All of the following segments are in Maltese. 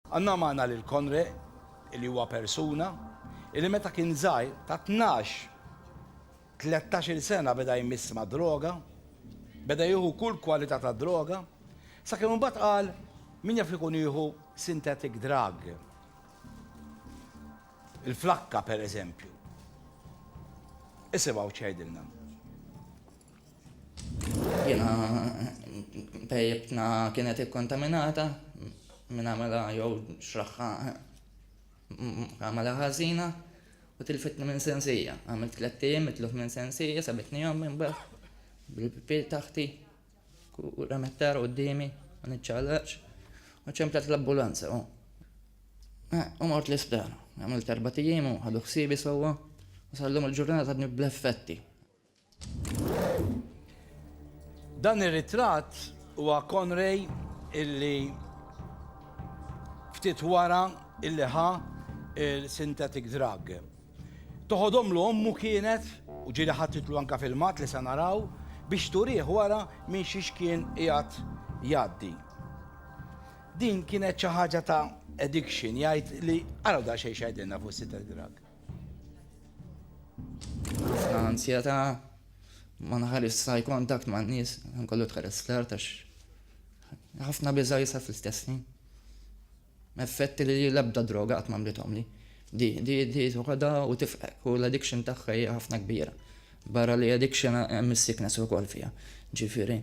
Għandna magħna lil Conre, li huwa persuna, li meta kien żgħir, ta' tnax, tlettax-il sena beda jmiss mad-droga, beda jieħu kull kwalità ta' droga, sakemm imbagħad qal, min jaf li kun jieħu synthetic drug, il-flakka pereżempju. Isimgħu x'għidilna. Jiena pejjibtna kienet ikkontaminata minn għamela jew xraħħa għamela ħażina u tilfitni minn sensija. Għamilt tliet ijiem mitluf minn sensija sabitni jom minn baħ bil-pil taħti u ramettar u d-dimi u nċalaċ u ċemplet l-ambulanza u eh, u mort l-isptar. Għamilt erba ijiem u ħadu ħsibi sewwa u sallum il-ġurnata bl-effetti. Dan ir-ritratt huwa Conray illi ftit wara illi ħa il-synthetic drug. Toħodhomlu ommu kienet, u ġieli ħattitlu anka filmat li se naraw, biex turih wara minn xiex kien qiegħed jgħaddi. Din kienet xi ħaġa ta' addiction, jgħid li araw daqsxejn x'għedinna fuq is-synthetic drug. Ansjeta ma nħares sa kontakt ma' nies, kollu tħares l-art għax ħafna biża jisa fl-istess ħin. Effetti li l-ebda droga qatt mamlitom li. Di, di, di, tuħada u tifqek u l-addiction tagħha hija ħafna kbira. Barra li addiction hemm is-sickness ukoll fiha. Ġifieri.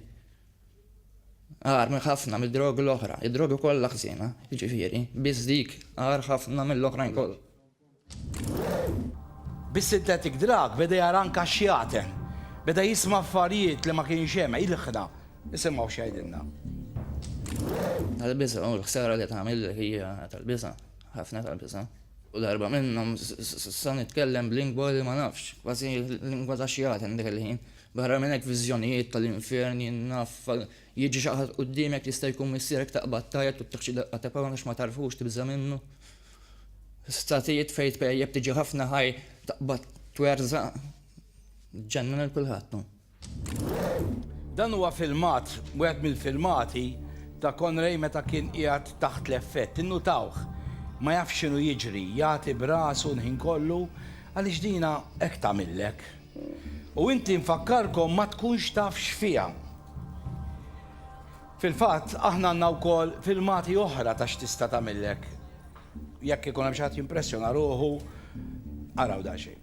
Għar minn ħafna mid-drogi l-oħra, id-drogi kollha ħżiena, ġifieri, biss dik għar ħafna mill-oħrajn kollha. Bis-synthetic drug beda jara anke xjaten. Beda jisma' affarijiet li ma kienx hemm. Ilħqna. Nisimgħu x'jgħidilna. Tal-biża' u l-ħsara li tagħmillek hija tal-biża'. Ħafna tal-biża'. U darba minnhom sa nitkellem b'lingwa li ma nafx. Kważi lingwa ta' xjaten dik il-ħin. Barra minn hekk viżjonijiet tal-infern jien naf. Jiġi xi ħadd quddiemek jista' jkun missierek taqbad tgħajjat u ttiħ xi daqqa ta' pawn għax ma tagħrfux tibża' minnu. Statijiet fejn tpejjep tiġi ħafna ħaj taqbad twerżaq. Ġenna lil kulħadd hu. Dan huwa filmat, wieħed mill-filmati ta' Conray meta kien qiegħed taħt l-effett. Innutawh. Ma jafx x'inhu jiġri, jagħti b'rasu l-ħin kollu għaliex dina hekk tagħmillek. U inti nfakkarkom ma tkunx taf x'fiha. Fil-fatt, aħna għandna wkoll filmati oħra ta' x'tista' tagħmillek. Jekk ikun hemm xi ħadd jimpressjona ruħu, araw daqsxejn.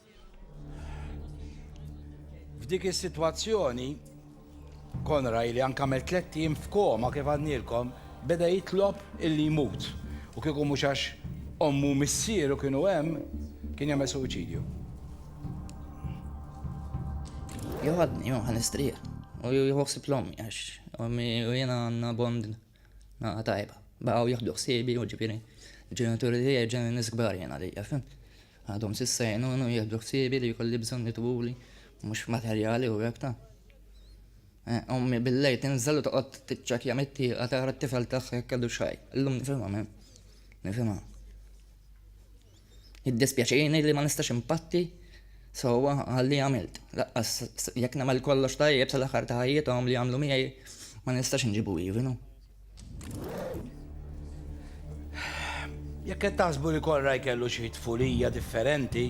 F'dik is-sitwazzjoni, Konraj li anke għamel tlett ijiem f'koma kif għadnielkom, beda jitlob illi jmut. U kieku mhux għax ommu u missieru kienu hemm, kien jagħmel suwiċidju. Joħodni, joħ, għal-istrieħ. U joħsib l-ommi, għax ommi u jena għanna bond Naqa tajba. Baqaw jieħdu ħsiebi u ġifieri l-ġenituri tiegħi ġenni nies kbar jien għalija, fim. Għadhom sissa jgħinuni u jieħdu ħsiebi li jkolli bżonn jitwuli mhux materjali u hekk ta'. Eh, ommi billej tinżel u toqgħod tiċċakja mit-tieqa tara t-tifel tagħha jekk kellu xaj. Illum nifhimha, nifhimha. Jiddispjaċini li ma nistax inpatti sewwa għalli għamilt. Laqqas jekk nagħmel kollox tajjeb sal-aħħar ta' ħajjithom li għamlu miegħi ma nistax inġibu ivinu. Jekk qed taħsbu li Konraj kellu xi tfulija differenti,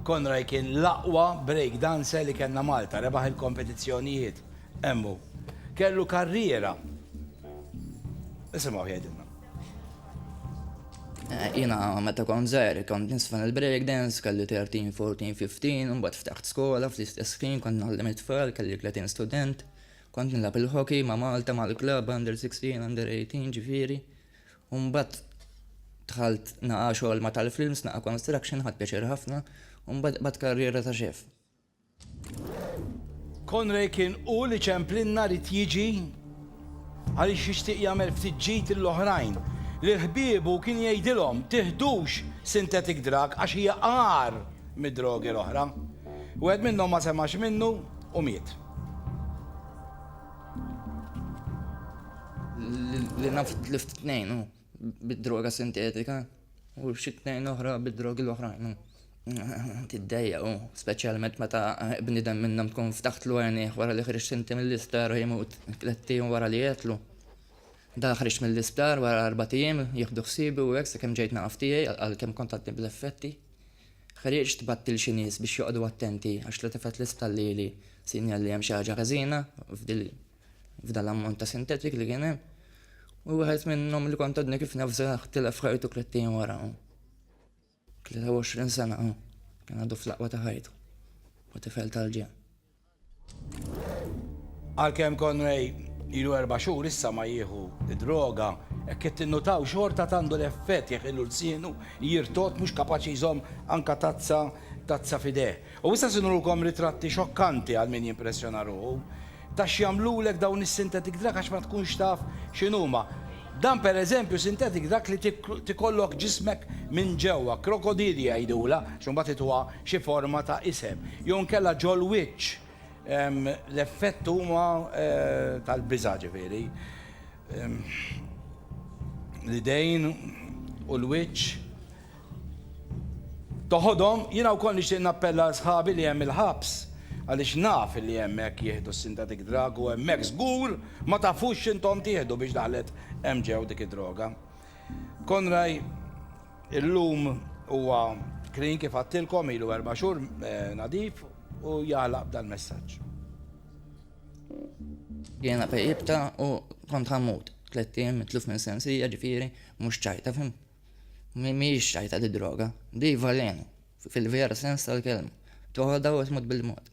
Konraj kien l-aqwa break dancer li kellna Malta, rebaħ il-kompetizzjonijiet. Emmu, kellu karriera. Isimgħu jgħidilna. Eh, jina meta kont zer, kont nisfan il-breakdance, kelli 13, 14, 15, un bat ftaħt skola, fl-istess ħin kont nallim it-tfal, kelli 30 student, kont nilab il-hockey ma' Malta, ma' l-klab, under 16, under 18, ġifiri. Un bat tħalt naqa xogħol ma' tal-films, naqa construction, ħad pjaċir ħafna, un bat karriera ta' xef. Conray kien hu li ċemplinna rid jiġi għaliex jixtieq jagħmel ftit ġid lill-oħrajn. Lil ħbiebu kien jgħidilhom tiħdux synthetic drug għax hija agħar mid-drogi l-oħra. Wieħed minnhom ma semax minnu u miet. Li naf tlift tnejn hu. bid-droga sintetika u xi tnejn oħra bid-drogi l-oħrajn. Tiddejja u speċjalment meta bniedem minnhom tkun ftaħtlu għajnih wara li ħriġ sinti mill-isptar u jmut tliet ijiem wara li jetlu. Da ħriġ mill-isptar wara arba' ijiem jieħdu ħsibi u hekk sakemm ġejt naqaf tiegħi għalkemm kont għadni bl-effetti. Ħriġt tbattil xi nies biex joqogħdu attenti għax li tifet li stallili sinjal li hemm xi ħaġa ħażina f'dil f'dan l-ammont ta' sintetik li kien hemm. U wieħed minnhom li kont għadni kif nafżaħ tilef ħajtu klettejn wara. 23 sena kien għadu fl-aqwa ta' ħajtu. U tifel tal-ġen. Għalkemm Conway ilu erba' xhur issa ma jieħu droga, hekk qed tinnutaw xorta tandu l-effett jekk ilu lsienu jirtot mhux kapaċi jżomm anka tazza tazza fideh. U issa se nurulkom ritratti xokkanti għal min jimpressjona ruħu ta' x'jagħmlulek dawn is-synthetic drug għax ma tkunx taf x'inhuma. Dan per eżempju synthetic drug li tikollok ġismek minn ġewwa, krokodilja jgħidulha għax imbagħad ituha xi forma ta' isem, jew inkella ġol-wiċċ. L-effett huma tal-biża' ġifieri l-idejn u l-wiċċ. Toħodhom, jiena wkoll nixtieq nappella għal sħabi li hemm il-ħabs għaliex naf illi hemmhekk jieħdu s-synthetic drug u hemmhekk żgur ma tafux x'intom tieħdu biex daħlet hemm ġew dik id-droga. Conray illum huwa clean kif għadtilkom ilu erba' xhur nadif u jagħlaq b'dal-messaġġ. Jiena fejqibta u kont ħammut. Tlett ijiem mitluf minn sensija ġifieri mhux ċajta fim. Mhijiex xtajta di d-droga, di velenu, fil-vera sens tal-kelma. Toħodha u tmut bil-mod.